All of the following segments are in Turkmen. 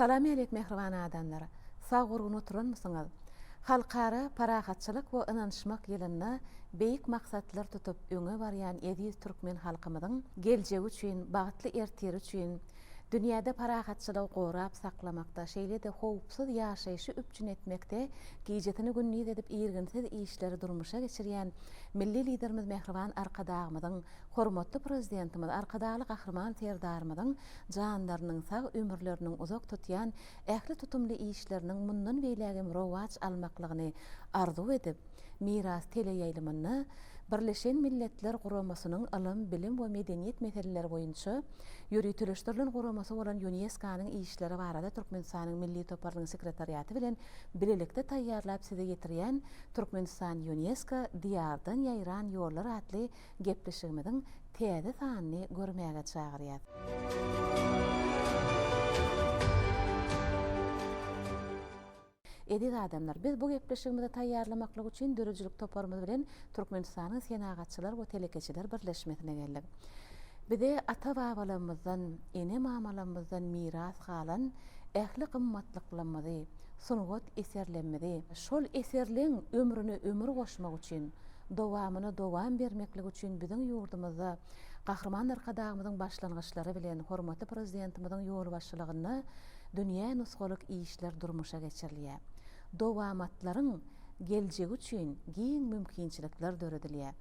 Salam ýalek mähriban adamlar! Sag-gurgun oturanmysyňyz? Halkara parahatçylyk we ynanyşmak ýylynda beýik maksatlar tutup öňe barýan eziz türkmen halkymyzyň geljegi üçin, bagtly ertiri üçin, Dünýäde parahatçylygy gorap saklamakda, şeýle-de howpsuz ýaşaýşy üpjün etmekde gijesini-gündiz edip irginsiz işleri durmuşa geçirýän Milli Liderimiz Mähriban Arkadagymyzyň, hormatly Prezidentimiz Arkadagly Gahryman Serdarymyzyň janlarynyň sag, ömürleriniň uzak tutýan ähli tutumly işleriniň mundan beýlägem rowaç almaklygyny arzuw edip, Miras teleýaýlymynda Birleşen Milletler Guramasynyň ylym, bilim we medeniýet meseleleri boýunça ýöriteleşdirilen guramasy bolan Ýunesko-nyň işleri barada Türkmenistanyň Milli toparynyň sekretariaty bilen bilelikde taýýarlap size ýetirýän Türkmenistan Ýunesko, Diýardan ýaýran ýollar atly gepleşigimiziň täze sanyny görmäge çagyrýar. Eziz adamlar, biz bu gepleşigimizi taýýarlamaklyk üçin döredijilik toparymyz bilen Türkmenistanyň Senagatçylar we telekeçiler birleşmesine geldik. Bize ata-babalarymyzdan, ene-mamalarymyzdan miras galan ähli gymmatlyklarymyzy, sungat eserlerimizi, şol eserleň ömrüne ömür goşmak üçin, dowamyna dowam bermeklik üçin biziň ýurdumyzda Gahryman Arkadagymyzyň başlangyçlary bilen hormatly Prezidentimiziň ýolbaşçylygynda dünýä nusgalyk işler durmuşa geçirilýär. Dowamatlaryň geljegi üçin giň mümkinçilikler döredilýär.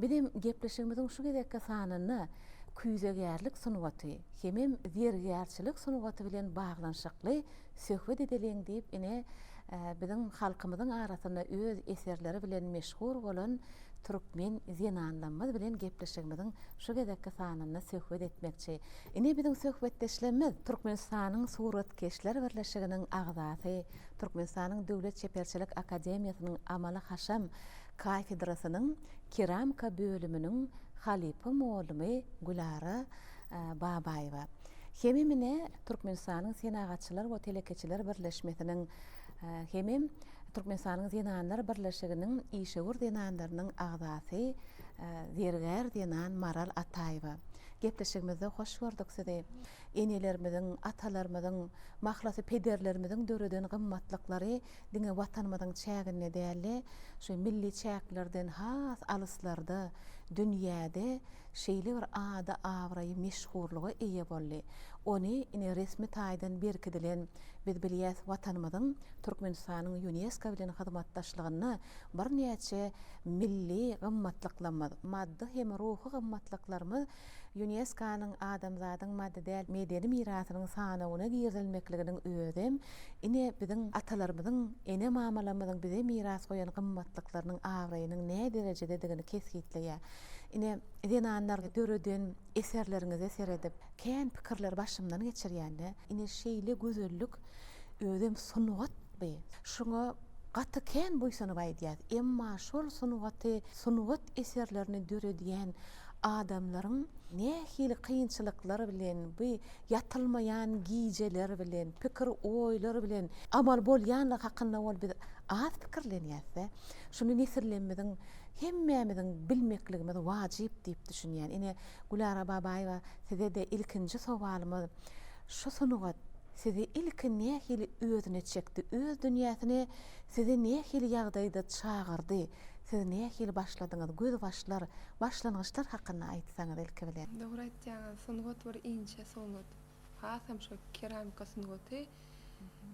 Bizem gepleşigimiziň şu gezekki sanynda küýzegärlik sungaty hemem zergärçilik sungaty bilen baglanyşykly söhbet edeliň diýip ine Biziň halkymyzyň arasynda öz eserleri bilen meşhur bolan türkmen zenanlamyz bilen gepleşigimiziň şu gezekki sanynda söhbet etmekçi. Ine biziň söhbetdeşlemmiz. Türkmenistanyň Suratkeşler birleşiginiň agzasy, Türkmenistanyň Döwlet çeperçilik akademiýasynyň amaly-haşam kafedrasynyň keramika bölüminiň halypa mugallmy Gülara Babaýewa. Hemem ine Türkmenistanyň Senagatçylar we telekeçiler birleşmesiniň hemem Türkmenistanyň Zenanlar birleşiginiň işewür zenanlarynyň agzasy zergär zenan Maral Ataýewa. Gepleşigimizde hoş gördük sizi. Enelerimiziň, atalarymyzyň, mahlasy pederlerimiziň döreden gymmatlyklary diňe Watanymyzyň çäginde däl-de, şu milli çäklerden has alyslarda, dünýäde Şeýle bir ady, abraýy, meşhurlyga eýe boldy. Ony ine resmi taýdan berkidilen, biz bilýäs, Watanymyzyň Türkmenistanyň Ýunesko bilen hyzmatdaşlygynda birnäçe milli gymmatlyklarymyz, maddy hem ruhy gymmatlyklarymyz Ýuneskonyň adamzadyň maddy däl medeni mirasynyň sanawyna girizilmekliginiň özem ine biziň atalarymyzyň, ene-mamalarymyzyň bize miras goýan gymmatlyklarynyň abraýynyň näderejededigini kesgitleýär. Ine, zenanlar döreden eserleriňize seredip, kän pikirleri başymdan geçirýän-de, ine, şeýle gözellik özem sungatmy? Şuňa gaty kän buýsanyp aýdýas. Emma şol sungaty, sungat eserlerini döredýän adamlaryň nähili kynçylyklar bilen, bu ýatylmaýan gijeler bilen, pikir, oýlar bilen amal bolýanlygy hakynda ol biz az pikirlenýäs-dä. Şuny nesillerimiziň hemmämiziň bilmekligimiz wajyp diýip düşünýän. Ine Gülara Babaýewa sizede ilkinji sowalymyz şu sungat sizi ilki nähili özüne çekdi, öz dünýäsine sizi nähili ýagdaýda çagyrdy, siz nähili başladyňyz, gözbaşlar, başlangyçlar hakynda aýtsaňyz ilki bilen. Dogry aýtýaňyz sungat bir inçe sungat, hasam şu keramika sungaty.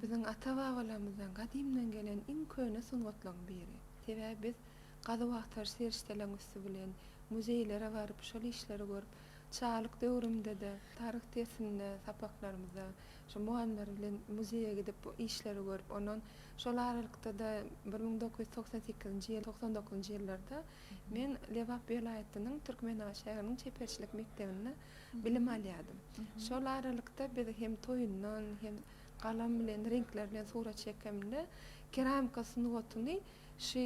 Biziň ata-babalarymyzdan gadymdan gelen iň köne sungatlaryň biri. Sebäbi biz gazuw-agtaryş serişdeleriň üsti bilen, muzeýlere baryp, şol işleri görüp, çagalyk döwrümde-de, taryh dersinde, sapaklarymyzda şo mugallymlar bilen muzeýe gidip, bu işleri görüp, ondan şol aralykda-da bir müň dokuz ýüz togsan sekizinji ýyl, togsan dokuzynjy ýyllarda men Lebap welaýatynyň Türkmenabat şäheriniň çeperçilik mekdebinde bilim alýardym. Şol aralykda biz hem toýundan, hem galam bilen, reňkler bilen surat çekemde, keramika sungatyny şu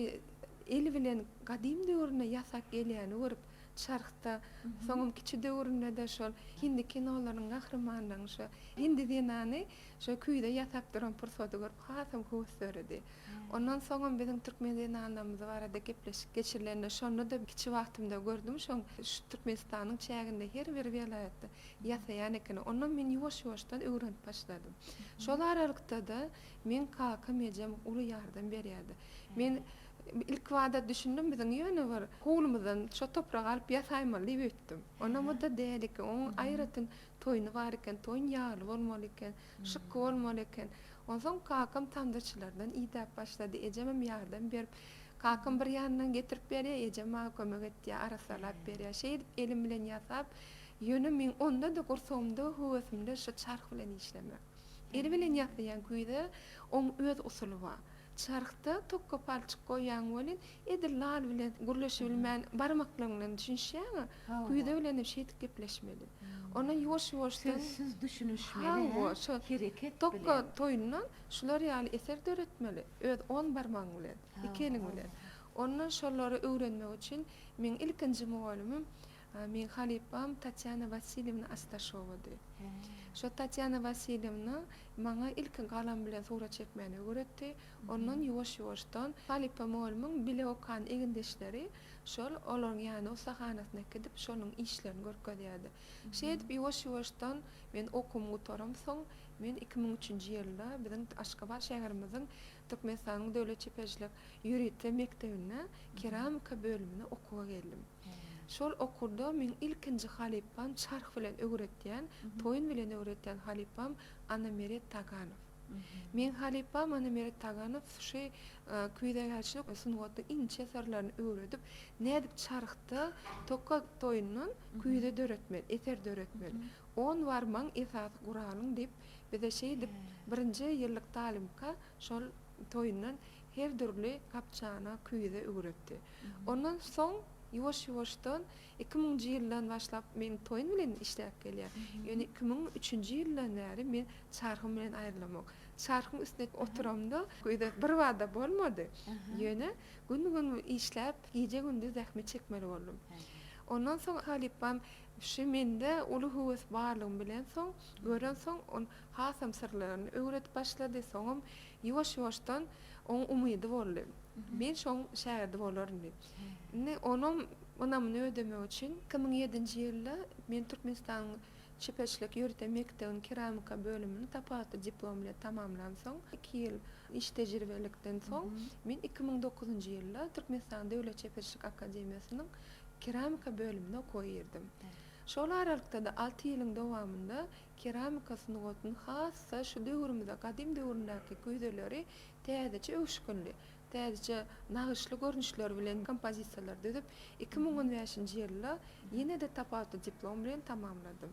el bilen gadym döwürde ýasap gelýäni görüp, çarhda, soňam kiçi döwründe-de şol hindi kinolarynyň gahrymanlarynyň şu hindi zenany şo küýze ýasap duran pursady görüp, hasam höwes döredi. Ondan soňam biziň türkmen zenanlarymyz barada gepleşik geçirilende şonda-da kiçi wagtymda gördüm şoň şu Türkmenistanyň çäginde her bir welaýatda ýasaýan ekeni. Ondan men ýuwaş-ýuwaşdan öwrenip başladym. Şol aralykda-da meň kakam ejem uly ýardam berýärdi. Men ilkibada düşündim biziň ýöne bir howlumyzdan şo topragy alyp ýasaýmaly diýip öýtdüm. Onam o-da däl eken. Oň aýratyn toýny bar eken. Toýun ýagly bolmaly eken. Şykgy bolmaly eken. Onsoň kakam tamdaçylardan idäp başlady. Ejemem ýardam berip, kakam bir ýandan getirip berýär, ejem maňa kömek etýär, arassalap berýär. Şeýdip elim bilen ýasap, ýöne meň onda-da gursagymda, höwesimde şu çarh bilen işlemek. El bilen ýasaýan küýze oň öz usuly bar. Çarhda tok gopalçyk goýýaň welin, edil lal bilen gürleşibilmän, barmaklaryň bilen düşünişýäň-ä. Küýze bilenem şeýdip gepleşmeli. Ondan ýuwaş-ýuwaşdan. Sözsüz düşünişmeli-hä. Hawa, şol. Hereket bilen. Tok toýundan şular ýaly eser döretmeli, öz on barmagyň bilen, iki eliň bilen. Ondan şolary öwrenmek üçin meň ilkinji mugallymym Meň halypam Tatýana Wasiljewna Astaşowady. Şo Tatýana Wasiljewna maňa ilki galam bilen surat çekmäni öwretdi. Ondan ýuwaş-ýuwaşdan halypa mugallymyň bile okan egindeşleri şol olaryň ýanyna ussahanasyna gidip, şonuň işlerini görkezýärdi. Şeýdip, ýuwaş-ýuwaşdan men okuwymy gutaramsoň, men iki müň üçünji ýylda biziň Aşgabat şäherimiziň Türkmenistanyň Döwlet çeperçilik ýörite mekdebine keramika bölümine okuwa geldim. Şol okurda meň ilkinji halypam çarh bilen öwretýän, toýun bilen öwretýän halypam Anameret Taganow. Meň halypam Anameret Taganow suşy küýzegärçilik sungatynyň inçe syrlaryny öwredip, nädip çarhda toka toýundan küýze döretmeli, eser döretmeli. On barmagyň esasy guralyň diýip, bize şeýdip birinji ýyllyk talymka şol toýundan Her dürli gap-çana, küýze öwretdi. Ondan soň ýuwaş-ýuwaşdan iki müňünji ýyldan başlap meniň toýum bilen işläp gelýär. Ýöne iki müň üçünji ýyldan bäri men çarhym bilen aýrylamok. Çarhyň üstüne oturamda küýze birbada bolmady. Ýöne gün-gün işläp, gije-gündiz zähmet çekmeli boldum. Ondan soň halypam şu mende uly höwes barlygyny bilen soň, gören soň, ol hasam syrlaryny öwredip başlady. Soňam Ýuwaş-ýuwaşdan oň umydy boldy. Men şoň şägirdi bolaryn diýip. Indi onam ynamyny ödemek üçin iki müň ýedinji ýylda men Türkmenistanyň çeperçilik ýörite mekdebiniň keramika bölümini tapawutly diplom bilen tamamlansoň, iki ýyl iş tejribelikden soň, men iki müň dokuzynjy ýylda Türkmenistanyň Döwlet çeperçilik akademiýasynyň keramika bölümine okuwa girdim. Şol aralykda-da alty ýylyň dowamynda Keramika sungatynyň hassa şu döwrümize gadym döwründäki güýzeleri täzeçe öwüşginli, täzeçe nagyşly görnüşler bilen kompozisiýalar düzüp, iki müň on bäşinji ýylda ýene-de tapawutly diplom bilen tamamladym.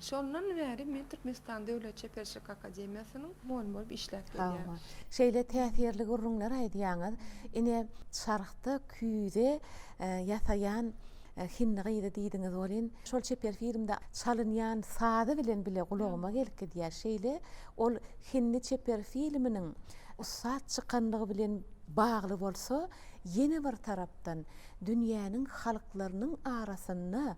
Şondan bäri men Türkmenistan Döwlet çeperçilik akademiýasynyň mugallymy bolup işläp gelýän. Şeýle täsirli gürrüňler aýdýaňyz. Ine, çarhda küýze ýasaýan Hindi gyzy diýdiňiz welin, şol çeper filmde çalynýan sazy bilen bile gulagyma gelip gidýär. Şeýle ol hindi çeper filminiň ussat çykanlygy bilen bagly bolsa, ýene bir tarapdan dünýäniň halklarynyň arasynda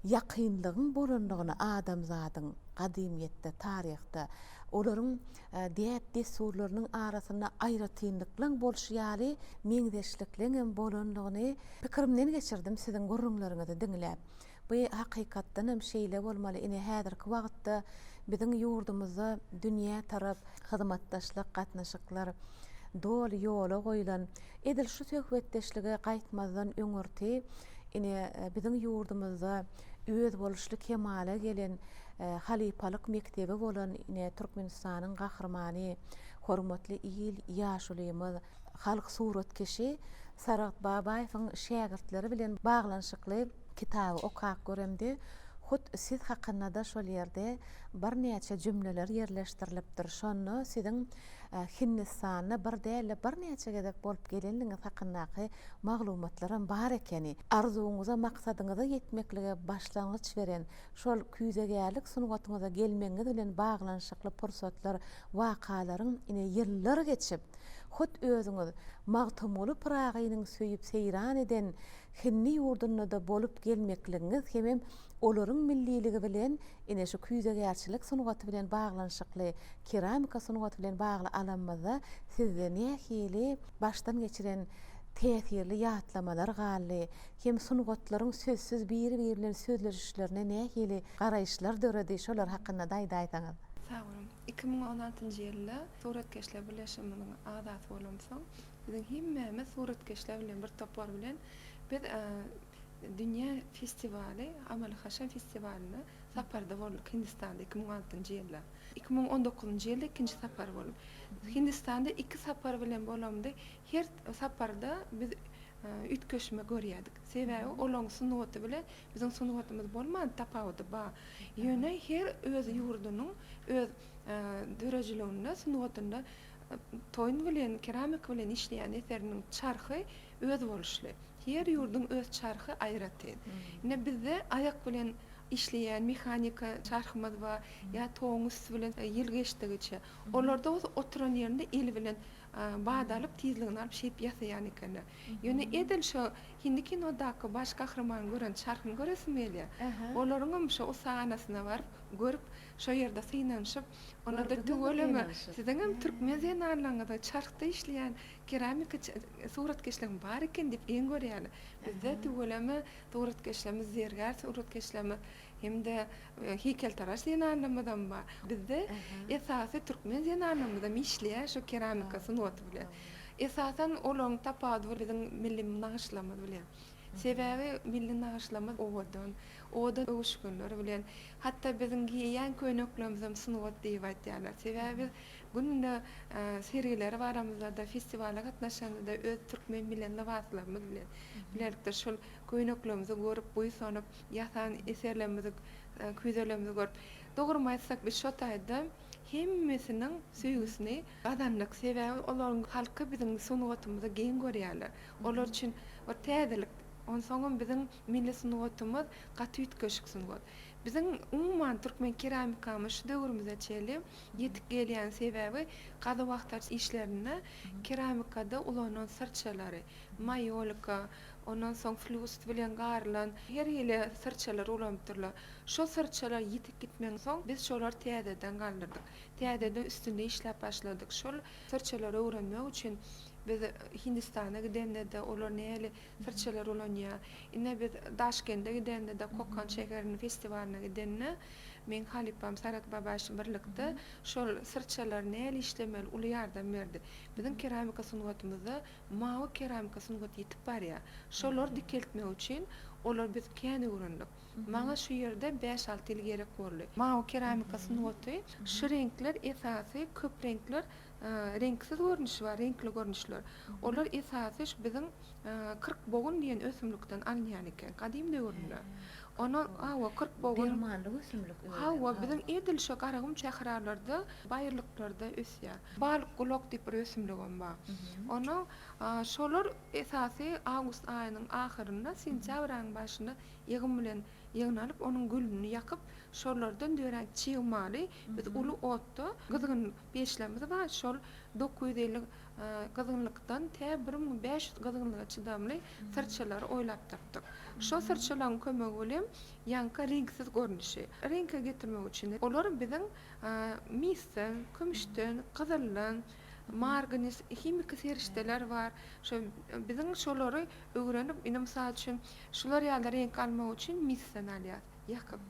ýakynlygyň bolanlygyny adamzadyň gadymyýetde, taryhda olaryň däp-dessurlarynyň arasynda aýratynlyklyň bolşy ýaly meňzeşlikliň hem bolandygyny pikirimden geçirdim siziň gürrüňleriňizi diňläp. Bu hakykatdan hem şeýle bolmaly, ine häzirki wagtda biziň ýurdumyzda dünýä tarap hyzmatdaşlyk gatnaşyklar doly ýola goýlan, edil şu söhbetdeşlige gaýtmazdan öňürti ine biziň ýurdumyzda, özboluşly kemala gelen halypalyk mekdebi bolan ine Türkmenistanyň Gahrymany, hormatly il ýaşulymyz, halk suratkeşi Saragt Babaýewiň şägirtleri bilen baglanyşykly kitaby okap göremde, hut siz hakynda-da şol ýerde birnäçe jümleler ýerleşdirilipdir. Şonda siziň Hindistanda bir däl-de birnäçe gezek bolup gelenligiňiz hakyndaky maglumatlaram bar ekeni. Arzuwyňyza, maksadyňyza ýetmeklige başlangyç beren şol küýzegärlik sungatyňyza gelmegiňiz bilen baglanyşykly pursatlar, wakalaryň, ine, ýyllar geçip, hut özüňiz Magtymguly Pyragynyň söýüp-seýran eden hindi ýurdunda-da bolup gelmekligiňiz hemem Olaryň milliligi bilen ine şu küýzegärçilik sungaty bilen baglanyşykly, keramika sungaty bilen bagly alanymyzda sizde nähili başdan geçiren täsirli ýatlamalar galdy hem sungatlaryň sözsüz biri-biri bilen sözleşişlerine nähili garaýyşlar döredi, şolar hakynda-da aýdaýsaňyz? Sag boluň. Iki müň on altynjy ýylda Suratkeşler birleşigimiziň agzasy bolamsoň, biziň hemmämiz suratkeşler bilen bir topar bilen biz Dünýä festiwaly Amal-Haşam festiwalyna saparda bolduk Hindistanda iki müň altynjy ýylda. Iki müň on dokuzynjy ýylda ikinji sapar bolup. Hindistanda iki sapar bilen bolamda her saparda biz üýtgeşme görýärdik. Sebäbi olaryň sungaty bilen biziň sungatymyz bolman tapawudy bar. Ýöne her öz ýurdunyň öz döredijiliginde sungatynda toýun bilen keramika bilen işleýän eseriniň çarhy Özboluşly. Her ýurduň öz çarhy aýratyn. Ine, bizde aýak bilen işleýän mehanika çarhymyz bar, ýa toguň üsti bilen ýyl geçdigiçe. Olarda bolsa oturan ýerinde eli bilen bada alyp, tizligini alyp, şeýip ýasaýan ekenler. Ýöne edil şo hindi kinodaky baş gahrymanyň gören çarhyny göresim gelýär. Olaryňam şo ussahanasyna baryp, görüp, şo ýerde synanyşyp, onda-da tüweleme siziňem türkmen zenanlaryňyzyň çarhda işleýän Keramika suratkeşligem bar eken diýip geň görýärler. Bizde tüweleme suratkeşlerimiz, zergär suratkeşlerimiz hem-de heýkeltaraş zenanlarymyzam bar. Bizde esasy türkmen zenanlarymyzam işleýär şu keramika sungaty bilen. Esasan olaryň tapawudy biziň milli nagyşlarymyz bilen. Sebäbi milli nagyşlarymyz owadan, owadan öwüşginler bilen. Hatda biziň geýýän köýneklerimizem sungat diýip aýdýarlar. Sebäbi biz Günde sergilere baramyzda-da, festiwala gatnaşamyzda öz türkmen bilen lybaslarymyz bilen bilelikde şol köýneklerimizi görüp, buýsanyp, ýasan eserlerimizi, küýzelerimizi görüp, dogrymy aýtsak, biz şo taýda hemmesiniň söýgüsini gazandyk. Sebäbi olaryň halky biziň sungatymyzy geň görýärler. Olar üçin bir täzelik. Onsoňam biziň milli sungatymyz gaty üýtgeşik sungat. Biziň umuman türkmen keramikamyz şu döwrümize çenli Ýetik gelýän sebäbi gazuw-agtaryş işlerinde keramikada ulanylan syrçalary, maýolika, ondan soň flýust bilen garylan her hili syrçalary ulanypdyrlar. Şo syrçalar ýitip gitmegiň soň biz şolary täzeden galdyrdyk. Täzeden üstünde işläp başladyk. Şol syrçalary öwrenmek üçin biz Hindistana gidende-de olar näli Syrçalar ulanýar. Ine biz Daşkende gidende-de, Kokan şäheriniň festiwalyna gidende, meň halypam Sarat Babaş birlikde şol syrçalary näl işlemeli uly ýardam berdi. Biziň keramika sungatymyzda mawy keramika sungaty ýitip barýar. Şolary dikeltmek üçin olar biz kän öwrendik. Maňa şu ýerde bäş-alty ýyl gerek boldy. Mawy keramika sungaty, şu reňkler esasy, köp reňkler Reňksiz görnüşi bar, reňkli görnüşler. Olar esasy şu biziň kyrkbogun diýen ösümlikden alynýan eken, gadym döwürinde. Ony, hawa, kyrkbogun. Dermanlyk ösümlik özem. Hawa, biziň edil şo Garagum sähralarda, baýyrlyklarda ösýär. Balykgulak diýip bir ösümligem bar. Ony şolar esasy awgust aýynyň ahyrynda, sentýabr aýynyň başynda ýygym bilen ýygnalyp, onuň gülüni ýakyp, şolardan dörän çig maly biz uly otda gyzgyn Peçlerimiz bar, şol dokuz ýüz elli gyzgynlykdan tä bir müň bäş ýüz gyzgynlyga çydamly syrçalary oýlap tapdyk. Şo syrçalaryň kömegi bilen ýaňky reňksiz görnüşi reňke getirmek üçin olar biziň misden, kümüşden, gyzyldan, margnis, himiki serişdeler bar. Şo biziň şolary öwrenip, indi mysal üçin şular ýaly reňk almak üçin misden alýas, ýakyp.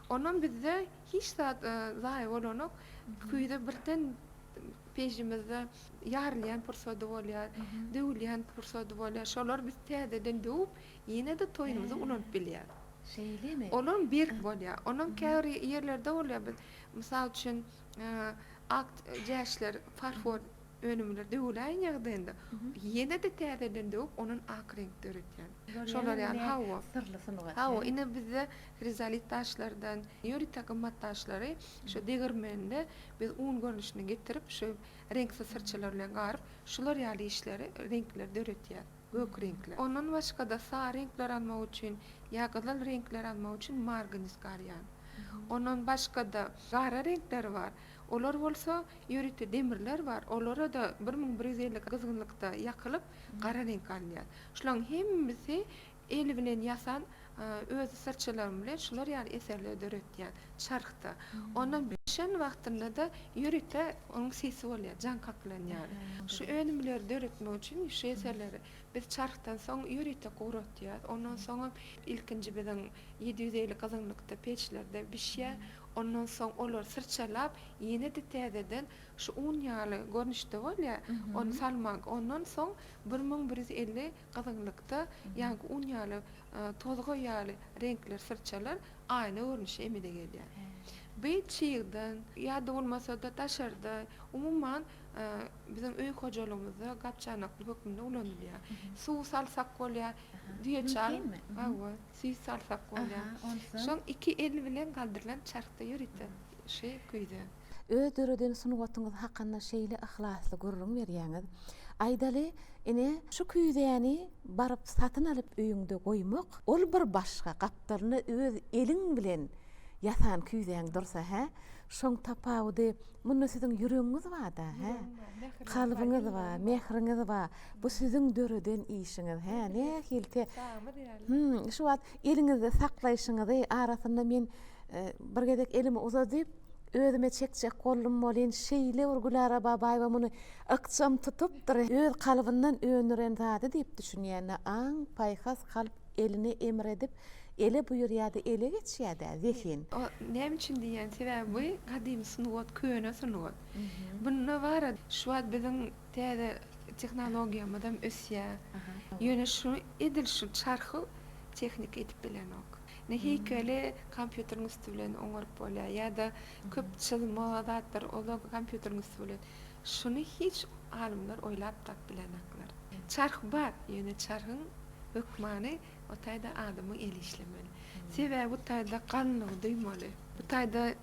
Onam bizde Hiç zat zaýa bolanok. Küýze birden peýjimizde ýarylýan pursady bolýar, döwülýän pursady bolýar. Şolary biz täzeden döwüp, ýene-de toýumyza ulanyp bilýäs. Şeýlemi? Olam berk bolýar. Onam käbir ýerlerde bolýar. Biz, mysal üçin, ak jäşler, farfor Önümler döwüläýen ýagdaýynda ýene-de täzeden döwüp, ondan ak reňk döretýän. Şolar ýaly hawa. Syrly sungat. Hawa, ine bizde hrizolit daşlardan, ýörite gymmat daşlary şu degirmende biz un görnüşinde getirip, şu reňksiz syrçalar bilen garyp, şular ýaly işleri, reňkleri döretýär. Gök reňkler. Ondan başga-da sary reňkleri almak üçin ýa gyzyl reňkleri almak üçin margnis garýan. Ondan başga-da gara reňkleri bar. Olar bolsa Ýörite demirler bar, olara-da bir müň bir ýüz elli gyzgynlykda ýakylyp, gara reňk alynýar. Şularyň hemmesi el bilen ýasan, öz syrçalarym bilen şular ýaly eserleri döretýän, çarhda. Ondan bişen wagtynda-da ýörite onuň sesi bolýar, jaň kaklanýar. Şu önümleri döretmek üçin şu eserleri biz çarhdan soň ýörite guratýar, ondan soňam ilkinji biziň ýedi ýüz elli gyzgynlykda peçlerde bişýär, ondan soň olary syrçalap, Ýene-de täzeden şu un ýaly görnüşde bolýar, ony salmak. Ondan soň bir müň bir ýüz elli gyzgynlykda ýaňky un ýaly tozga ýaly reňkler, syrçalar aýna görnüşi emele gelýär. Bi çygdan ýa-da bolmasa-da daşarda, umuman, biziň öý hojalygymyzda gap-çanaklyk hökmünde ulanylýar. Suw salsak bolýar, düýeçaý. Mümkinmi? Hawa. Süýt salsak bolýar. Aha, onsoň? Şol iki el bilen galdyrylan çarhda ýörite şy güýze. Öz döreden sungatyňyz hakynda şeýle yhlasly gürrüň berýäňiz. Aýdaly, ine, şu küýzäni baryp satyn alyp öýüňde goýmak, ol bir başga, gapdalynda öz eliň bilen ýasan küýzäň dursa, hä? Şoň tapawudy, munda siziň ýüregiňiz bar-da, hä? Kalbyňyz bar, mähriňiz bar. Bu siziň döreden işiňiz, hä? Nähilki Hum, şu wagt eliňizde saklaýşyňyzy, arasynda men bir gezek elimi uzadyp, özüme çekjek boldum welin, şeýle bir Gülara Babaýewa muny ykjam tutupdyr, öz kalbyndan öndüren zady diýip düşünýän-ä, aň-paýhas, kalp. Eline emir edip, ele buýurýa-da ele geçýä-dä, zehin. O näme üçin diýýän, sebäbi bu gadymy sungat, köne sungat. Bunda bar-a, şu wagt biziň täze tehnologiýamyzam ösýä. Ýöne şu, edil şu çarhy tehnika edip bilenok. Ine, heýkeli kompýuteriň üsti bilen oňaryp bolýa ýa-da köp çyzma zatlar, ol-a kompýuteriň üsti bilen. Şuny hiç alymlar oýlap tap bilenoklar. Çarh bar, ýöne çarhyň hökmany o taýda adamyň eli işlemeli. Sebäbi bu taýda ganlygy duýmaly. Bu taýda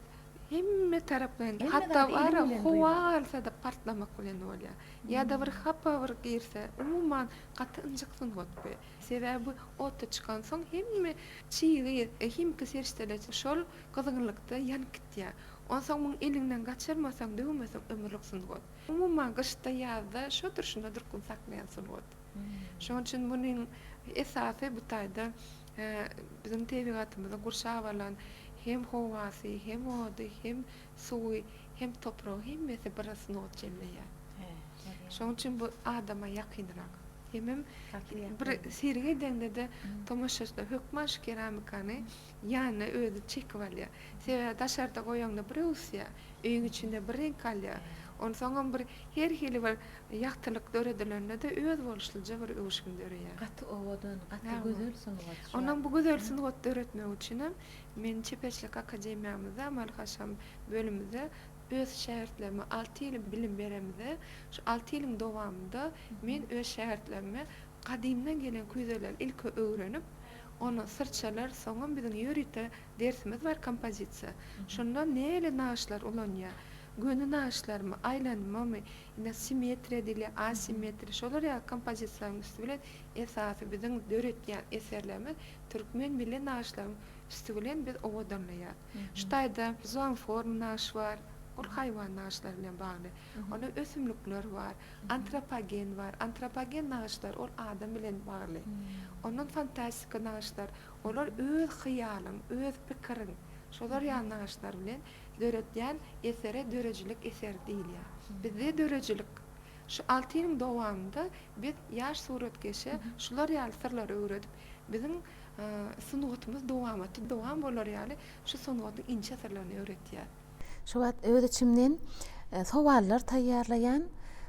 hemme tarap bilen, hatda bara howa galsa-da partlamak bilen bolýar. Ýa-da bir hapa bir girse, umuman gaty ynjyk sungat bu. Sebäbi bu ota çykansoň hemme çygy, himiki serişdeler şol gyzgynlykda ýanyp gitýär. diýýär. Onsoň muny eliňden gaçyrmasaň, döwmeseň ömürlik sungat. Umuman gyşda, ýazda şo durşuna durkun saklaýan sungat. Şonuň üçin munuň esasy bu taýda biziň tebigatymyzy gurşap alan hem howasy, hem ody, hem suwy, hem topragy hemmesi bir sungat jemleýär. Şonuň üçin bu adama ýakynrak. Hemem bir sergi edende-de tomaşaçylar hökman şu keramikany Ýanyna özi çekip alýar. Sebäbi daşarda goýaňda bir öwüsýär, öýüň içinde bir reňk alýar. Onsoňam bir her hili bir ýagtylyk döredilende-de öz boluşlyja bir öwüşgin döreýär. Gaty owadan, gaty gözel sungat şu. Onam bu gözel sungat döretmek üçinem men çeperçilik akademiýamyzda, amaly-haşam bölümimizde öz şägirtlerime alty ýyl bilim beremizde, şu alty ýylyň dowamynda men öz şägirtlerime gadymdan gelen küýzeleri ilki öwrenip, Ony syrçalar soňam biziň ýörite dersimiz bar kompozisiýa. Şonda näle nagyşlar ulanýar? Göni nagyşlarmy, aýlanmamy, ine simmetriýa diýilýär, asimmetriýa şolar ýaly kompozisiýalaryň üsti bilen esasy biziň döretýän eserlerimiz türkmen milli nagyşlaryň üsti bilen biz owadanlaýarys. Şu taýda zoomorf nagyş bar. Ol haýwan nagyşlary bilen bagly. Onda ösümlikler bar. Antropogen bar. Antropogen nagyşlar ol adam bilen bagly. Ondan fantastika nagyşlar, olar öz hyýalyň, öz pikiriň, şolar ýaly nagyşlar bilen döretýän esere döredijilik eseri diýilýär. Bizde döredijilik Şu alty ýylyň dowamynda biz ýaş suratkeşe şular ýaly syrlary öwredip, biziň sungatymyz dowamatda dowam bolar ýaly şu sungatyň inçe syrlaryny öwretýäs. Şu wagt öz içimden sowallar taýýarlaýan,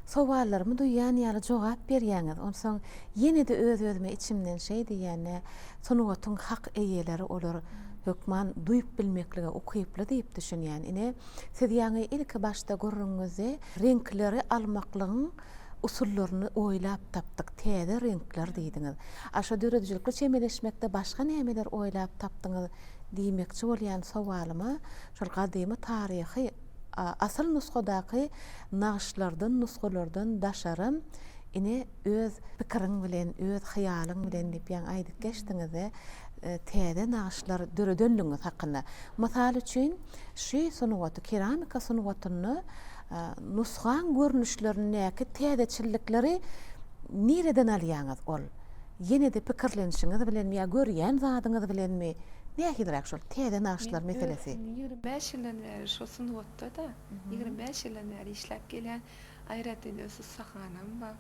sowallarymy duýýan ýaly jogap berýäňiz. Onsoň ýene-de öz-özüme içimden şeý diýýän, Nä, sungatyň hak eýeleri olar hökman duýup bilmeklige ukyply diýip düşünýän. Ine, siz ýaňy ilki başda gürrüňiňizde reňkleri almaklygyň usullaryny oýlap tapdyk, täze reňkler diýdiňiz. A şo döredijilikli çemeleşmekde başga nämeler oýlap tapdyňyz diýmekçi bolýan sowalyma şol gadymy taryhy asyl nusgadaky nagyşlardan, nusgalardan daşaram ine öz pikiriň bilen, öz hyýalyň bilen diýip ýaňy aýdyp geçdiňizde täze nagyşlar döredenligiňiz hakynda. Mysal üçin şy sungaty, keramika sungatynda Nusgaň görnüşlerindäki täzeçillikleri nireden alýaňyz? Ol ýene-de pikirlenişiňiz bilenmi ýa görýän zadyňyz bilenmi? Nähiliräk şol täze nagyşlar meselesi? Men ýigrimi bäş ýyldan bäri şol sungatda-da, ýigrimi bäş ýyldan bäri işläp gelýän. Aýratyn öz ussahanam bar.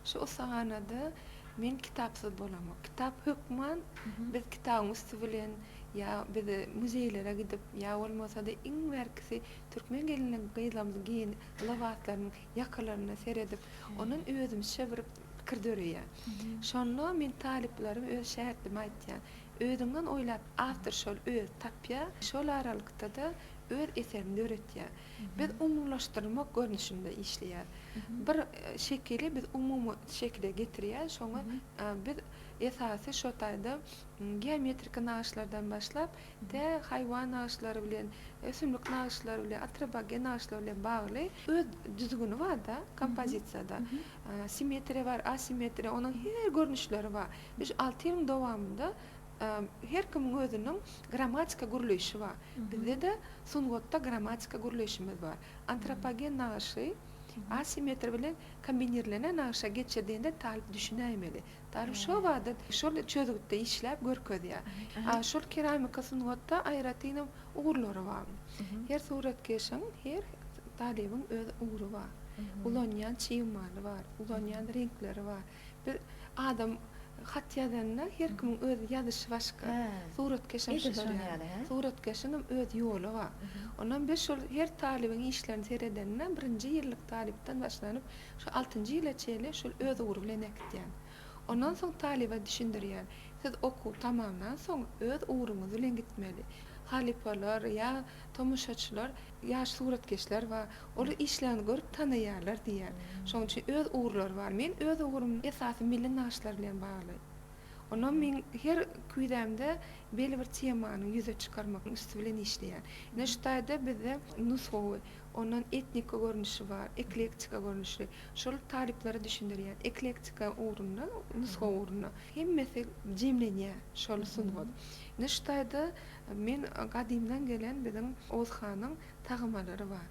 Şu ussahanada men kitapsyz bolamok. Kitap hökman biz kitabyň üsti bilen ýa biz muzeýlere gidip ýa bolmasa-da iň bärkisi Türkmen gelinligi gyzlarymyzyň geýen lybaslarynyň ýakalaryna seredip, ondan özümizçe bir pikir döreýär. Şonda men talyplaryma öz şägirtlerime aýtýan, özüňden oýlap, awtor şol özi tapýar, şol aralykda-da öz eserini döretýär. Biz umumylaşdyrmak görnüşinde işleýäs. Bir şekili biz umumy şekile getirýäs, şoňa biz esasy şo taýda geometriki nagyşlardan başlap, de haýwan nagyşlary bilen, ösümlik nagyşlary bilen, atropogen nagyşlar bilen bagly öz düzgüni barda kompozisiýada. Simmetriýa bar, asimmetriýa, onuň her görnüşleri bar. Biz şu alty ýylyň dowamynda her kimiň özüniň grammatika gürleýşi bar. Bizde-de sungatda grammatika gürleýşimiz bar. Antropogen nagyşy asimmetriýa bilen kombinirlenen nagyşa geçirdiňde talyp düşünäýmeli. Dal şobada şol çözgütde işläp görkezýär. A şol keramika sungatda aýratyn hem ugurlary bar. Her suratkeşiň, her talybyň öz ugry bar. Ulanýan çig maly bar, ulanýan reňkleri bar. Bir adam hat ýazanda her kimiň öz ýazyşy başga. Suratkeş hem şular ýaly. Suratkeşiň hem öz ýoly bar. Ondan biz şol her talybyň işlerini seredende birinji ýyllyk talypdan başlanyp Şu altynjy ýyla çenli şul öz ugry bilen äkitýän. Ondan soň talyba düşündirýän, siz okuw tamamlan soň öz ugruňyz bilen gitmeli. Halypalar ýa tomaşaçylar ýaş suratkeşler bar, olar işleriňizi görüp tanaýarlar diýýän. Şonuň üçin öz ugurlary bar. Men öz ugrum esasy milli nagyşlar bilen bagly. Onam men her küýzämde belli bir temany ýüze çykarmak üsti bilen işleýän. Ine şu taýda bizde nusgawy. Ondan etniki görnüşi bar, eklektika görnüşi. Şol taryplary düşündirýär. Eklektika ugrunda, nusga ugrunda hemmesi jemlenýär şol sungat. Indi şu taýda men gadymdan gelen biziň Oguz hanyň tagymalary bar.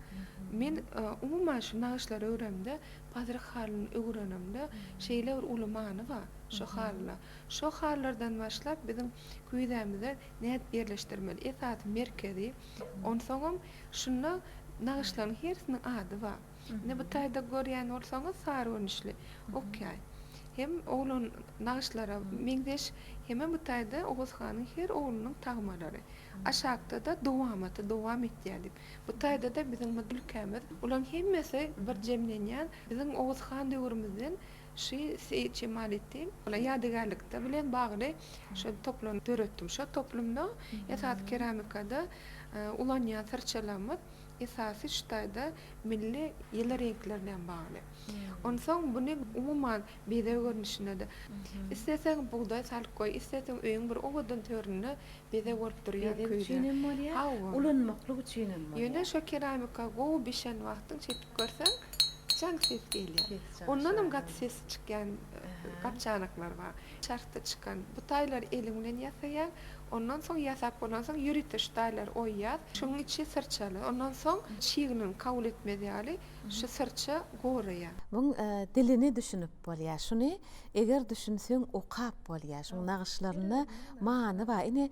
Men umuman şu nagyşlary öremde, pazyryk halyny öwrenemde şeýle bir uly many bar şu halyda. Şo halylardan başlap biziň küýzämize nädip ýerleşdirmeli? Esasy merkezi. Onsoňam şunda nagyşlaryň hersiniň ady bar. Indi bu taýda görýän bolsaňyz sary görnüşli okýaý. Hem oglan nagyşlara meňzeş hemem bu taýda Oguz hanyň her oglunyň tagmalary. Aşakda-da dowamaty dowam etýär diýip. Bu taýda-da biziň bu ülkämiz bularyň hemmesi bir jemlenýän biziň Oguz han döwrümizden Şy Seýit Jemaletdin Ola ýadygärlikde bilen bagly şol toplum döretdim. Şo toplumda esasy keramikada ulanýan syrçalarymyz esasy şu taýda milli ýyly reňkler bilen bagly. Onsoň buny umuman bezeg görnüşinde-de, isleseň bugdaý salyp goý, isleseň öýüň bir owadan töründe Beze bolup durýar köýde. Beze üçin hem bolýar. Hawa. Ulanmaklyk üçin hem bolýar. Ýöne şo keramika gowy bişen wagtyň çekip görseň jaň ses gelýär. Ondan hem gaty sesi çykýan gap-çanaklar bar. Çarhda çykan bu taýlary eliň bilen ýasaýaň. Ondan soň ýasap bolansoň ýörite şu taýlary oýýas. Şuň içi syrçaly. Ondan soň çygnyň kabul etmez ýaly şu syrça goraýar. Muň dilini düşünip. Bolýa şuny eger düşünseň okap bolýa şuň nagyşlarynda many bar ine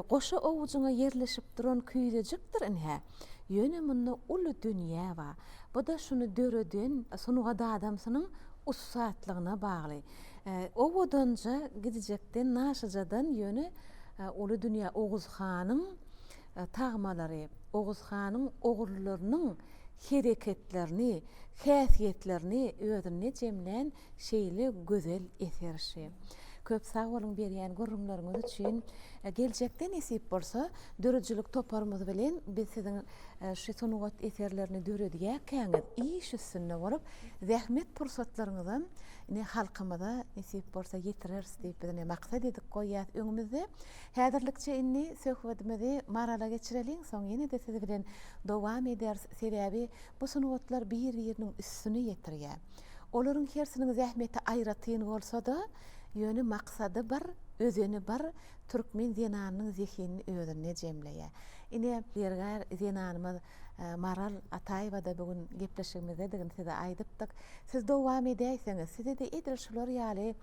goşa owujyňa ýerleşip duran küýzejikdir ynha ýöne munda uly dünýä bar buda şuny döreden sungat adamsynyň ussatlygyna bagly owadanja gidijekden naşyjadan ýöne uly dünýä oguzhanyň tagmalary, Oguz hanyň ogullarynyň hereketlerini, häsiýetlerini özünde jemlän şeýle gözel eser şi. Köp sag boluň berýän gürrüňleriňiz üçin. Geljekde nesip bolsa döredijilik toparymyz bilen biz siziň şi sungat eserlerini döredýärkäňiz iş üstünde bolup zähmet pursatlaryňyzam ine halkymyza nesip bolsa ýetireris diýip biz ine maksat edip goýýas öňümizde. Häzirlikçe indi söhbedimizi Marala geçireliň soň ýene-de siz bilen dowam ederis sebäbi bu sungatlar bir biriniň üstüni ýetirýä. Olaryň hersiniň zähmeti aýratyn bolsada ýöne maksady bir, özeni bir türkmen zenanynyň zehinini özünde jemleýä. Ine zergär zenanymyz Maral Ataýewa-da bu gün gepleşigimizdedigini size aýdypdyk. Siz dowam edäýseňiz, size-de edil şular ýaly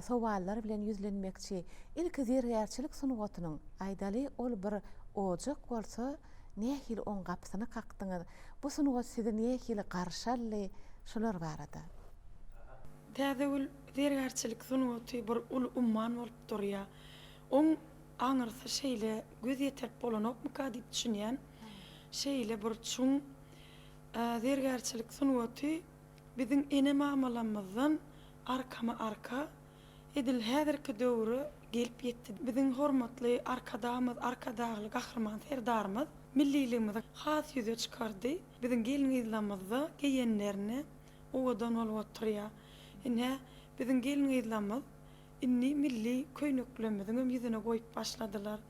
sowallar bilen ýüzlenmekçi. Ilki zergärçilik sungatynyň, aýdaly, ol bir ojak bolsa, nähili oň gapysyny kakdyňyz? Bu sungat sizi nähili garşy aldy? Şular barada. Täzegül, Zergärçilik sungaty bir uly umman bolup durýar. Oň aňyrsy şeýle göz ýetirip bolanokmyka diýip düşünýän. Şeýle bir çuň zergärçilik sungaty biziň ene-mamalamyzdan arkama-arka edil häzirki döwre gelip ýetdi. Biziň hormatly Arkadagymyz, Arkadagly Gahryman Serdarymyz milliligimizi has ýüze çykardy. Biziň gelin-gyzlarymyz-da geýenlerini owadan bolup oturýar. Ine, biziň gelin-gyzlarymyz Indi milli köýneklerimiziňem ýüzüne goýup başladylar.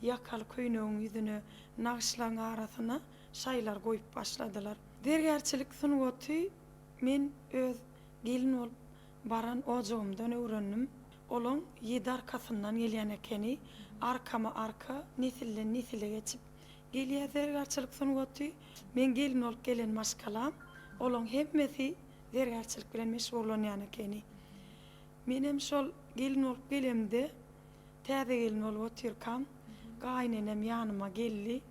Ýakaly köýnegiň ýüzüne nagyşlaryň arasyna şaýlar goýup başladylar. Zergärçilik sungaty men öz gelin bolup baran ojagymdan öwrendim. Olaň ýedi arkasyndan gelýän ekeni. Arkama-arka, nesilden-nesile geçip gelýär zergärçilik sungaty. Meň gelin bolup gelen maşgalam, olaň hemmesi zergärçilik bilen meşgullanýan ekeni. Menem şol gelin bolup gelemde, täze gelin bolup otyrkam, gaýynenem ýanyma geldi.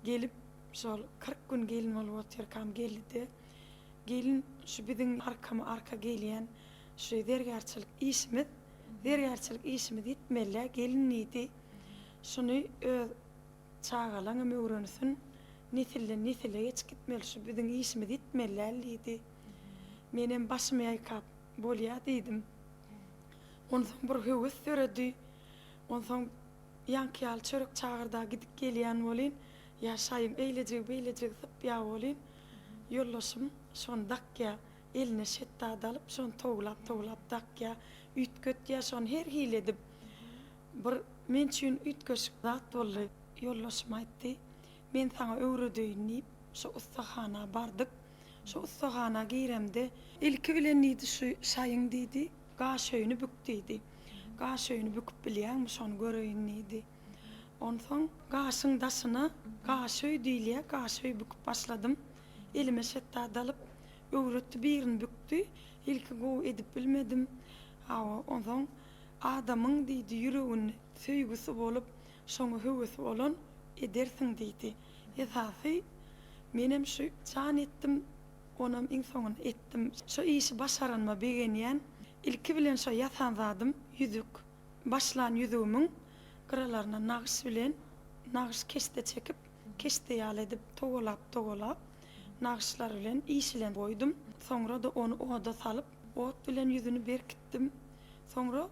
Gelip, şol kyrk gün gelin bolup otyrkam geldi-de, Gelin, şu biziň arkama-arka gelýän şu zergärçilik işimiz, zergärçilik işimiz ýitmeli-ä, gelin diýdi. Şuny öz çagalaňam öwrensin, nesilden-nesile geçip gitmeli, şu biziň işimiz ýitmeli däl diýdi. Menem başymy ýaýkap. Bolýa diýdim. Onsoň bir höwes döredi. Onsoň ýaňky ýaly çörek çagyrda gidip gelýän bolyn, ýa şaýyň eýlejigi-beýlejigi sypýa bolyn. Ýoldaşym şony dakýa, eline şetdady alyp, şony towlap-towlap dakýa, üýtgetýä şony her hili edip. Bir men üçin üýtgeşik zat boldy. Ýoldaşym aýtdy, Men saňa öwredeýin diýip, şo ussahana bardyk. Şo ussahana giremde. Ilki bilen diýdi, şu şaýyň diýdi, gaşöýüni bük diýdi. Gaşöýüni büküp bilýäňmi, şony göreýin diýdi. Onsoň gaşyň daşyna gaşöý diýilýä, gaşöý büküp başladym. Elime şetdat alyp, öwretdi, birini bükdi. Ilki gowy edip bilmedim. Hawa, onsoň adamyň diýdi, ýüreginde söýgüsi bolup. Şoňa höwesi bolan edersiň diýdi. Esasy, menem şu jan etdim, onam iň soňunda etdim. Şu işi başaranyma begenýän. Ilki bilen şo ýasan zadym ýüzük. Başlan ýüzügimiň gyralaryna nagyş bilen nagyş keşde çekip, keşde ýaly edip towalap-towalap, nagyşlar bilen işilen goýdum. Soňra-da ony oda salyp, ot bilen ýüzüni berkitdim. Soňra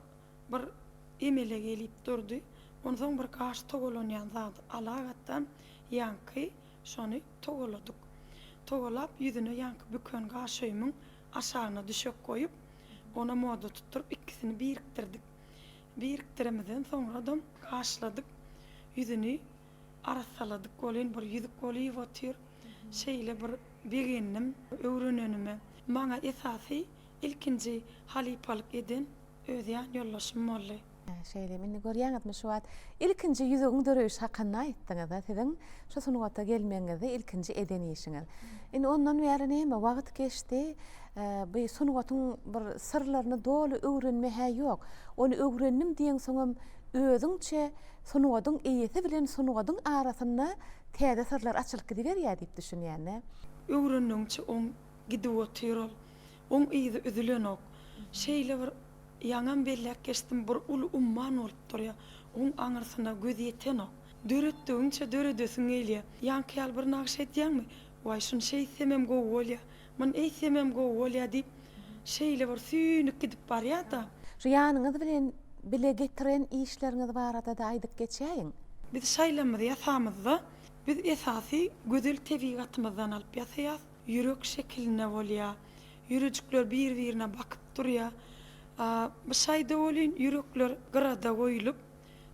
Bir emele gelip durdy. Onsoň bir gaş togalanýan zady ala gatdan ýaňky şony togaladyk. Togalap ýüzüne ýaňky büken gaşöýümiň aşagyna düşek goýup, ona moda tutduryp ikisini birikdirdik. Birikdiremizden soňradam gaşladyk. Ýüzüni arassaladyk welin bir ýüzük bolýup otyr. Şeýle bir begendim öwrenenime. Maňa esasy Ilkinji halypalyk eden öz ýan ýoldaşym boldy. Hä, şeýlemi, indi görýäňizmi, şu wagt ilkinji ýüzügiň döreýşi hakynda aýtdyňyz-a, siziň şu sungata gelmegiňizde ilkinji eden işiňiz. Indi ondan bäri näme, wagt geçdi, bu sungatyň bir syrlaryny doly öwrenme-hä ýok. Ony öwrendim diýeňsoňam, özüňçe sungatyň eýesi bilen sungatyň arasynda täze syrlar açylyp gidiberýär diýip düşünýän-dä. Öwrendigiňçe oň gidip otyr ol. Oň yzy üzülenok. Şeýle bir ýaňam belläp geçdim, bir uly umman bolup durýar. Oň aňyrsyna göz ýetenok. Döretdigiňçe döredesiň gelýär. Ýaňky ýaly bir nagşy edýäňmi? Waý, şuny şeýtsemem gowy bolýar, muny eýtsemem gowy bolýar diýip, şeýle bir süýnüp gidip barýar-da. Şu ýanyňyz bilen bile getiren işleriňiz barada-da aýdyp geçäýiň. Biz şaýlamyzy ýasamyzda, biz esasy gözel tebigatymyzdan alyp ýasaýas. Ýürek şekilinde bolýa. Ýürejikler bir-birine bakyp durýa. Bu şaýda welin ýürekler gyrada goýulyp,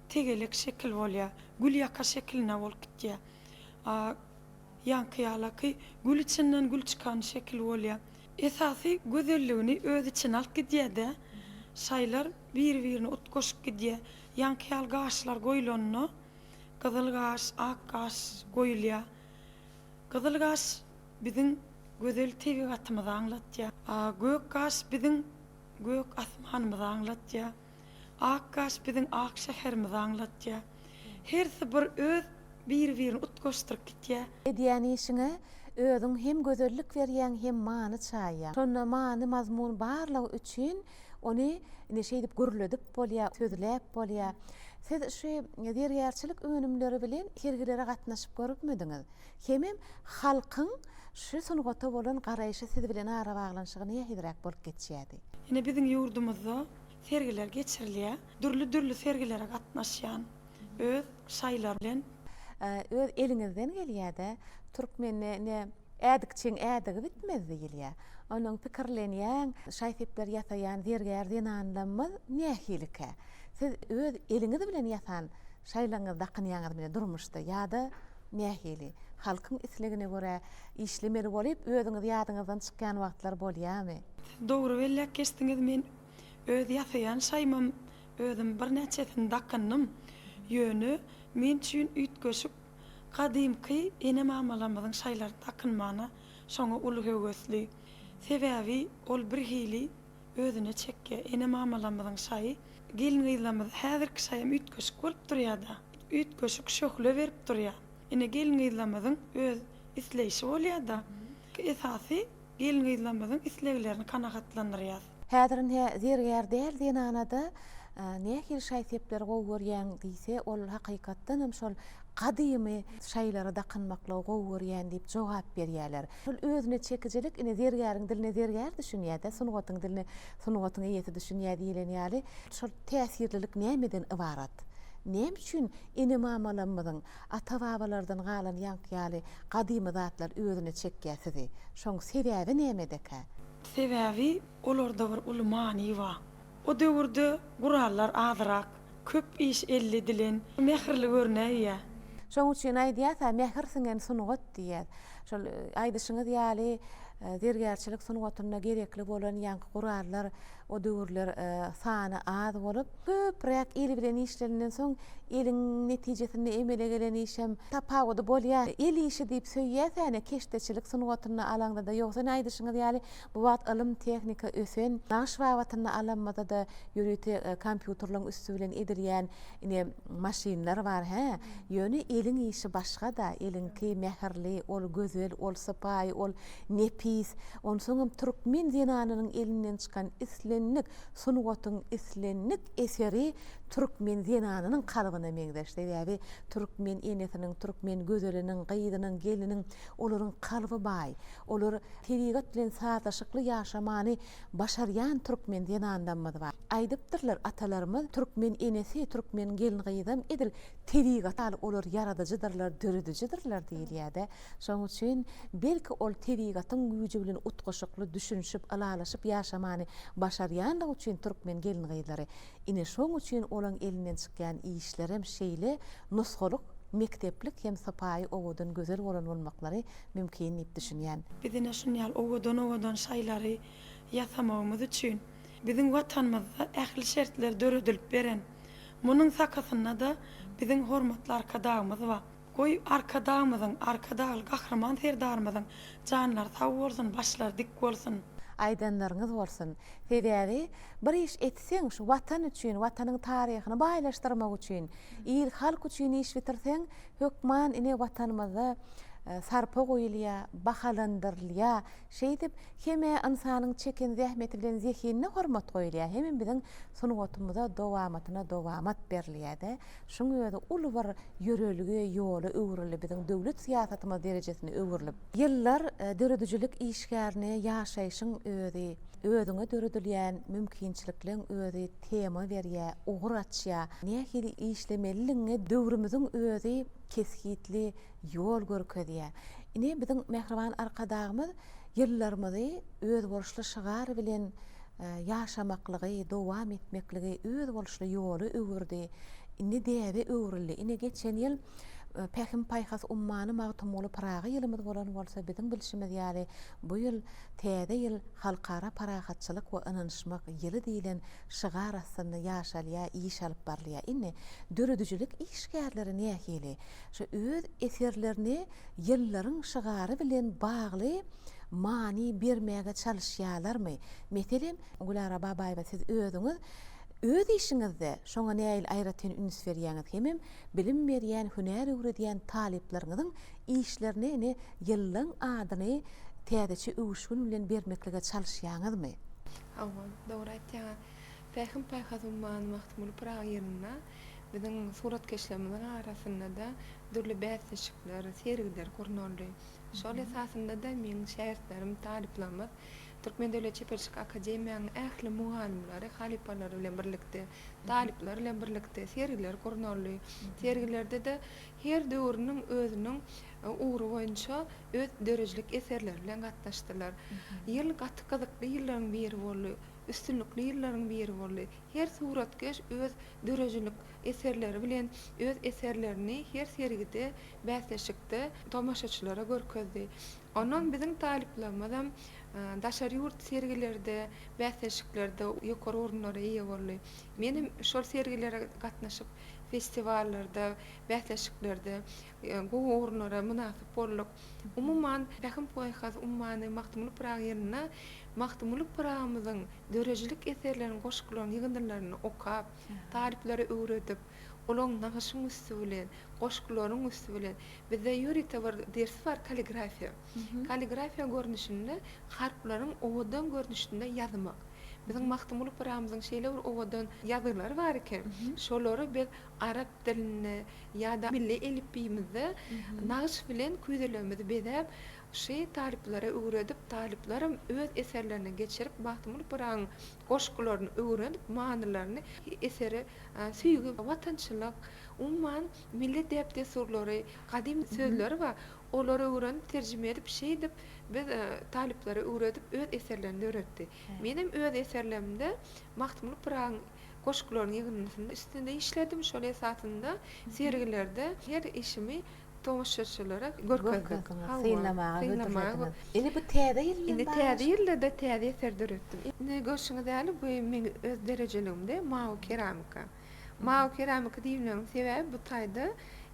tegelek şekil bolýa. Gül ýaka şekilinde bolup gitýä. Ýaňky ýalaky gül içinden gül çykan şekil bolýa. Esasy gözelligini öz içine alyp gidýä-de, şaýlar bir-birine utgaşyp gidýä. Ýaňky ýaly gaşlar goýulanda, gyzyl gaş, ak gaş goýulýa. Gyzyl gaş biziň gözel tebigatymyzy aňlatýar. Gök gaş biziň gök asmanymyzy aňlatýar. Ak gaş biziň ak şäherimizi aňlatýar. Hersi bir öz biri-birini utgaşdyryp gitýär. Edýän işiňe özüň hem gözellik berýäň hem many çaýýaň. Şonda many-mazmun barlygy üçin Ony ine şeýdip gürledip bolýar, sözläp bolýar. Siz şu zergärçilik önümleri bilen sergilere gatnaşyp görüpmidiňiz? Hemem halkyň şu sungata bolan garaýşy siz bilen arabaglanyşygy nähiliräk bolup geçýärdi? Ine biziň ýurdumyzda sergiler geçirilýär. Dürli-dürli sergilere gatnaşýan. öz şaýlar bilen. Öz eliňizden gelýädä türkmende ne ädikçiň ädigi bitmez diýilýä onuň pikirlenýäň şaý-sepler ýasaýan zergär zenanlamyz nähilikä siz öz eliňiz bilen ýasan şaýlaňyzy dakynýaňyzmy durmuşda ýada nähili halkyň islegine görä işlemeli bolyp özüňiz ýadyňyzdan çykýan wagtlar bolýamy. Siz dogry belläp geçdiňiz men Öz ýasaýan şaýmam özüm birnäçesini dakyndym. Ýöne men üçin üýtgeşik, gadymky ene-mamalarymyzyň şaýlary dakynmana şoňa uly höwesli. Sebäbi ol birhili özüne çekýä. Ene-mamalarymyzyň şaýy gelin-gyzlarymyza häzirki şaýam üýtgeşik bolup durýada. Üýtgeşik şöhle berip durýa. Ine gelin-gyzlarymyzyň öz isleýşi bolýada. Esasy gelin-gyzlarymyzyň isleglerini kanagatlandyrýas. Häzir ne zergär däl zenanada nähili şaý-sepleri gowy görýäň diýse, ol hakykatdan hem şol gadymy şaýlara dakynmaklygy gowy görýän diýip jogap berýärler. Şol özüne çekijilik ine zergäriň diline zergär düşünýär-de, sungatyň diline sungatyň eýesi düşünýär diýlen ýaly. Şol täsirlilik nämeden ybarat? Näme üçin ene-mamalarymyzyň, ata-babalardan galan ýaňky ýaly gadymy zatlar özüne çekýär sizi? Şoň sebäbi nämedekä? Sebäbi olarda bir uly many bar. O döwürde gurallar azyrak, köp iş elli edilen, mähirli görünäýýär. Şoň üçin aýdýas-a, mähir siňen sungat diýýäs. Şol aýdyşyňyz ýaly, zergärçilik sungatynda gerekli bolan ýaňky gurallar o döwürler sany az bolup, Köpräk el bilen işleninden soň eliň netijesinde emele gelen işem tapawudy bolýar. El işi diýip söýýäsene keşdeçilik sungatyny alaňdada ýogsa ine aýdyşyňyz ýaly bu wagt ylym tehnika ösen nagyş babatynda alanmyzada ýörite kompýuterleň üsti bilen edilýän ine maşynlar bar hä ýöne eliň işi başgada eliňki mähirli ol gözel ol sypaýy ol nepis onsoňam türkmen zenanynyň elinden çykan islendik Sungatyň islendik eseri türkmen zenanynyň kalbyna meňzeş. Sebäbi türkmen enesiniň, türkmen gözeliniň, gyzynyň, gelniniň olaryň kalby baý. Olar tebigat bilen sazlaşykly ýaşamany başarýan türkmen zenanlarymyz bar. Aýdypdyrlar atalarymyz, Türkmen enesi, türkmen gelin-gyzam edil tebigat ýaly olar ýaradyjydyrlar, döredijidirler diýilýär-de. Şonuň üçin, belki ol tebigatyň güýji bilen utgaşykly düşünişip, ylalaşyp ýaşamany başarýanlygy üçin türkmen gelin-gyzlary, ine, şoň üçin olaň elinden çykýan işlerem şeýle nusgalyk, mekdeplik hem sypaýy owadan gözel bolan bolmaklary mümkin diýip düşünýän. Biz ine şun ýaly owadan-owadan şaýlary ýasamagymyz üçin, biziň Watanymyzda ähli şertler döredilip beren. Munuň sakasynda-da biziň hormatly Arkadagymyz bar. Goý Arkadagymyzyň, Arkadagly Gahryman Serdarymyzyň janlary sag bolsun, başlary dik bolsun! Aýdanlaryňyz bolsun. Sebäbi bir iş etseň şu watan üçin, watanyň taryhyny baýlaşdyrmak üçin, il halk üçin iş bitirseň hökman ine watanymyzda sarpa goýulýar, bahalandyrylýar. Şeýdip, hem-ä ynsanyň çeken zähmeti bilen zehinine hormat goýulýar, hemem biziň sungatymyza dowamatyna dowamat berilýär-de, şuň özi uly bir ýörelge, ýola öwrüldi, biziň döwlet syýasatymyz derejesine öwrülip. Ýyllar döredijilik işgärine ýaşaýşyň özi, özüňe döredilýän mümkinçilikleň özi tema berýär, ugur açýar, nähili işlemelidigiňe döwrümiziň özi kesgitli Ýol görkezýär. Ine, biziň mähriban Arkadagymyz ýyllarymyzy özboluşly şygar bilen ýaşamaklygy, dowam etmekligi, özboluşly ýola öwürdi. Indi däbe öwrüldi. Ine, geçen ýyl Pähim-paýhas ummany Magtymguly Pyragy ýylymyz bolan bolsa, biziň bilşimiz ýaly, bu ýyl Täze ýyl Halkara parahatçylyk we ynanyşmak ýyly diýlen şygar astynda ýaşalýar, iş alyp barylýar. Indi döredijilik işgärleri nähili? Şu öz eserlerine ýyllaryň şygary bilen bagly many bermäge çalyşýarlarmy? Meselem, Gülara Babaýewa siz özüňiz öz işiňizde şoňa nähili aýratyn üns berýäňiz hemem bilim berýän, hünär öwredýän talyplaryňyzyň işlerine ine ýyllaň adyny täzeçe öwüşgin bilen bermeklige çalyşýaňyzmy? Hawa, dogry aýtýaňyz. Pähim-paýhas ummany Magtymguly Pyragy ýylynda biziň suratkeşlerimiziň arasynda-da dürli bäsleşikler, sergiler gurnaldy. Şol esasynda-da meň şägirtlerim, talyplarymyz Türkmen döwlet çeperçilik akademiýanyň ähli mugallymlary, halypalary bilen birlikde, talyplar bilen birlikde sergiler gurnaldy. Sergilerde-de her döwrüniň özüniň ugry boýunça öz döredijilik eserleri bilen gatnaşdylar. Ýyl gaty gyzykly ýyllaryň biri boldy. üstünlikli ýyllaryň biri boldy. Her suratkeş öz döredijilik eserleri bilen öz eserlerini her sergide, bäsleşikde tomaşaçylara görkezdi. Ondan biziň talyplarymyzam daşary ýurt sergilerde, bäsleşiklerde ýokary orunlara eýe boldy. Menem şol sergilere gatnaşyp, festiwallarda, bäsleşiklerde gowy orunlara mynasyp bolduk. Umuman, Pähim-paýhas ummany Magtymguly Pyragy ýylynda Magtymguly Pyragymyzyň döredijilik eserlerini, goşgularyny, ýygyndylaryny okap, talyplara öwredip, olaryň nagyşyň üsti bilen, goşgularyň üsti bilen, bizde ýörite bir ders bar kalligrafiýa. Kalligrafiýa görnüşinde harplaryň owadan görnüşinde ýazmak. Biziň Magtymguly Pyragymyzyň şeýle bir owadan ýazgylary bar eken, şolary biz arap dilinde, Ýa-da milli elipbiýimizde nagyş bilen küýzelerimizi bezäp, şy talyplara öwredip, talyplaram öz eserlerine geçirip, Magtymguly Pyragyň goşgularyny öwrenip, manylaryny, esere söýgi, watançylyk, umuman, milli däp-dessurlary, gadym sözleri bar, olary öwrenip, terjime edip, şeýdip, biz talyplara öwredip, öz eserlerini döretdi. Menem öz eserlerimde Magtymguly Pyragyň. Goşgularyň ýygyndysynda üstünde işledim, şol esasynda sergilerde her işimi tomaşaçylara görkezdik. Synlamaga hödürlediňiz. Indi bu täze ýyl bilen baglanyşykly. Indi täze ýylda-da täze eser döretdim. Indi görşüňiz ýaly, bu meň öz derejeligimde mawy keramika. Mawy keramika diýmegimiň sebäbi bu taýda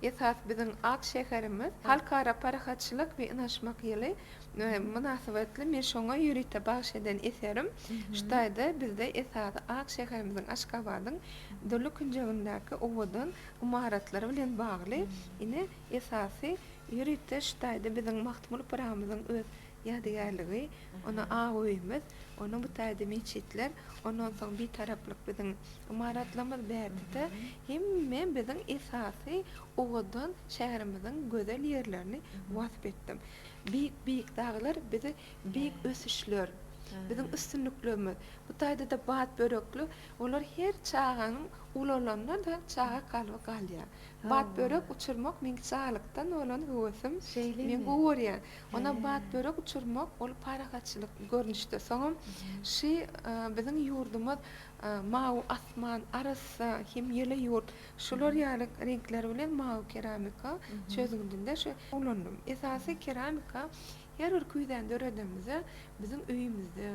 esas biziň ak şäherimiz Halkara parahatçylyk we ynanyşmak ýyly mynasybetli men şoňa ýörite bagyş eden eserim şu taýda bizde esasy ak şäherimiziň Aşgabadyň dürli künjegindäki owadan ymaratlary bilen bagly ine esasy ýörite şu taýda biziň Magtymguly Pyragyymyzyň öz ýadygärligi ona ak öýümiz ona bu taýda metjitler ondan soň bitaraplyk biziň ymaratlarymyz bärde-de hemme biziň esasy owadan şäherimiziň gözel ýerlerini wasp etdim. Beýik beýik daglar bizi beýik ösüşler biziň üstünliklerimiz bu taýdada bat börekli olar her çaganyň ulalanynda çaga kalby galýar bat börek uçurmak meň çagalykdan bolan höwesim men gowy görýän onam bat börek uçurmak ol parahatçylyk görnüşde soňam şy biziň ýurdumyz mawy asman arassa hem ýyly ýurt. Şular ýaly reňkler bilen mawy keramika çözgüdinde şu ulandym. Esasy keramika her bir küýzäni döredemizde biziň öýümizde,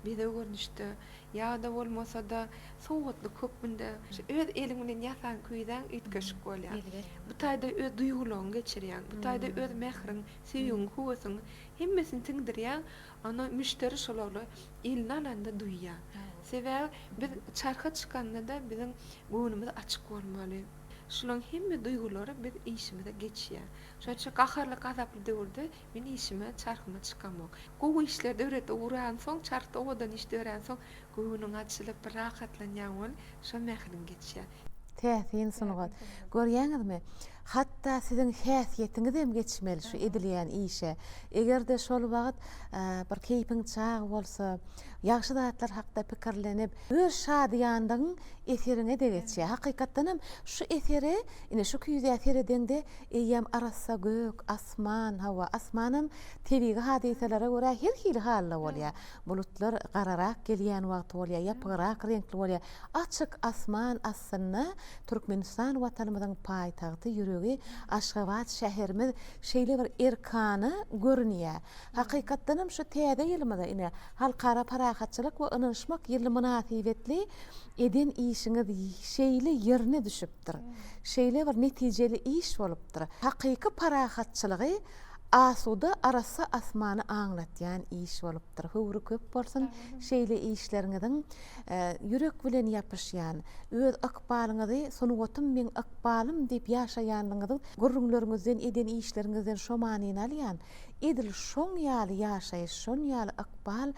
bezeg görnüşde ýa-da bolmasa-da sowgatlyk hökmünde şu öz eliň bilen ýasan küýzäň üýtgeşik bolýar. Bu taýda öz duýgularyňy geçirýäň, bu taýda öz mähriň, söýgiň, höwesiň hemmesini siňdirýäň. Ony müşderi şolary eline alanda duýýar. Sebäbi biz çarha çykanda-da biziň göwnümiz açyk bolmaly. Şularyň hemme duýgulary biz işimize geçýär. Şonuň üçin gaharly, gazaply döwürde men işime, çarhyma çykamok. Gowy işler döredip ugransoň, çarhda owadan iş döränsoň göwnüň açylyp, bir rahatlanýaň ol, şol mähiriň geçýär. Täsin sungat. Görýäňizmi? Hatda siziň häsiýetiňizem geçmeli şu edilýän işe. Eger-de şol wagt bir keýpiň çag bolsa, ýagşy zatlar hakda pikirlenip, öz şadyýanlygyň eseriňe-de geçýär. Hakykatdanam şu esere, ine şu küýzä seredeňde eýýäm arassa gök, asman, hawa, asmanam tebigy hadysalara görä her hili halda bolýar. Bulutlar gararak gelýän wagty bolýar, ýapygrak reňkli bolýar. Açyk asman astynda Türkmenistan Watanymyzyň paýtagty ýüregi Aşgabat şäherimiz şeýle bir erkana görünýär. Hakykatdanam şu täze ýylymyza ine Halkara parahatçylyk we ynanyşmak ýyly mynasybetli eden işiňiz şeýle ýerine düşüpdir. Şeýle bir netijeli iş bolupdyr. Hakyky parahatçylygy asuda arassa asmany aňlatýan iş bolupdyr. Höwri köp bolsun şeýle işleriňiziň. Ýürek bilen ýapyşýan, öz ykbalyňyzy Sungatym meň ykbalym diýip ýaşaýanlygyňyzyň gürrüňleriňizden, eden işleriňizden şo manyny alýan. Edil şoň ýaly ýaşaýyş, şoň ýaly ykbal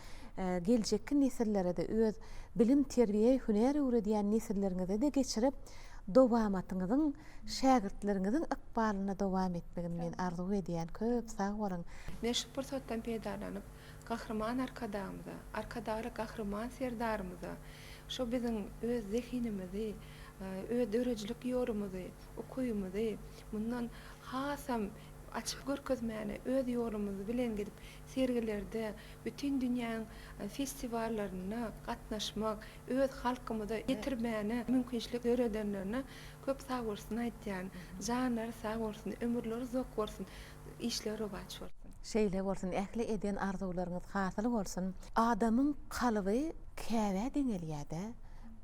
geljekki nesillere-de, öz bilim, terbiýe, hünär öwredýän nesilleriňize-de geçirip, dowamatyňyzyň, şägirtleriňiziň ykbalyna dowam etmegini men arzuw edýän. Köp sag boluň! Men şu pursatdan peýdalanyp, Gahryman Arkadagymyza, Arkadagly Gahryman Serdarymyza şo biziň öz zehinimizi, öz döredijilik ýolumyzy, ukybymyzy mundan hasam açyp görkezmäne öz ýolumyz bilen gidip sergilerde, bütin dünýäň festiwallarynda gatnaşmak, öz halkymyza ýetirmäne mümkinçilik döredenlerine köp sagbolsun aýtýan. Janlary sag bolsun, ömürleri uzak bolsun. Işler rowaç bolsun. Şeýle bolsun ähli eden arzuwlaryňyz hasyl bolsun. Adamyň kalby Käbä deňelýädä,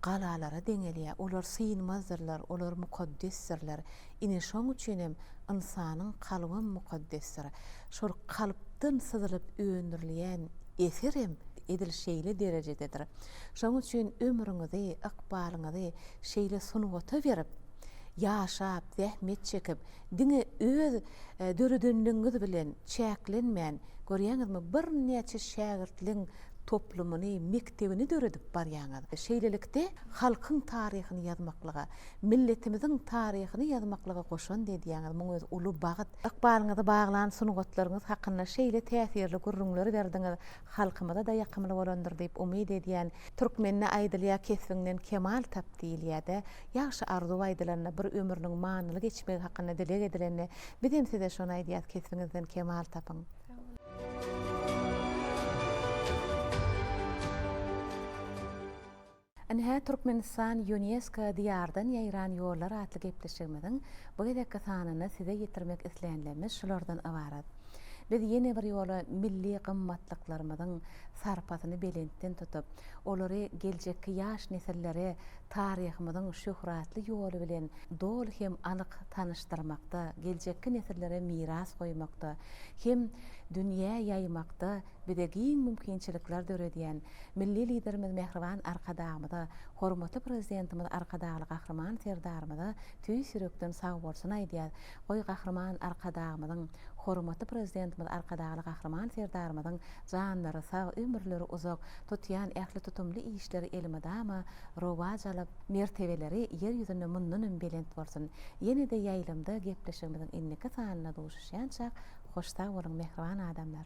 galalara deňelýä, olar synmazdyrlar, olar mukaddesdirler. Ine şoň üçinem ynsanyň kalbam mukaddesdir. Şol kalpdan syzylyp öndürilýän eserem edil şeýle derejededir. Şoň üçin ömrüňizi, ykbalyňyzy şeýle sungata berip, ýaşap, zähmet çekip, Diňe öz döredenligiňiz bilen çäklenmän, görýäňizmi, birnäçe şägirtligiň toplumyny, mekdebini döredip barýaňyz. Şeýlelikde, halkyň taryhyny ýazmaklyga, milletimiziň taryhyny ýazmaklyga goşant edýäňiz, muň özi uly bagt. Ykbalyňyzy baglan sungatlaryňyz hakynda şeýle täsirli gürrüňleri berdiňiz, halkymyza-da ýakymly bolandyr diýip umyt edýän. Türkmende aýdylýar, Kesbiňden kemal tap diýilýär-dä. Ýagşy arzuw aýdylanda, bir ömrüniň manyly geçmegi hakynda dileg edilende, bizem size şony aýdýas kesbiňizden kemal tapyň. Ine hä Türkmenistan Ýunesko Diýardan ýaýran ýollar atly gepleşigimiziň bu gezekki sanyny size ýetirmek isleýänlerimiz şulardan ybarat. Biz ýene bir ýola milli gymmatlyklarymyzyň sarpasyny belentden tutup, olary geljekki ýaş nesillere taryhymyzyň şöhratly ýoly bilen doly hem anyk tanyşdyrmakda, geljekki nesillere miras goýmakda hem dünýä ýaýmakda bize giň mümkinçilikler döredýän Milli Liderimiz Mähriban Arkadagymyza, hormatly Prezidentimiz Arkadagly Gahryman Serdarymyza tüýs ýürekden sagbolsun aýdýarys. Goý, Gahryman Arkadagymyzyň, hormatly Prezidentimiz Arkadagly Gahryman Serdarymyzyň janlary sag, ömürleri uzak, Tutýan ähli tutumly işleri elmydama rowaç alyp, mertebeleri ýer ýüzünde mundan hem belent bolsun! Ýene-de ýaýlymda gepleşigimiziň indiki sanynda duşuşýançak hoş sag boluň mähriban adamlar!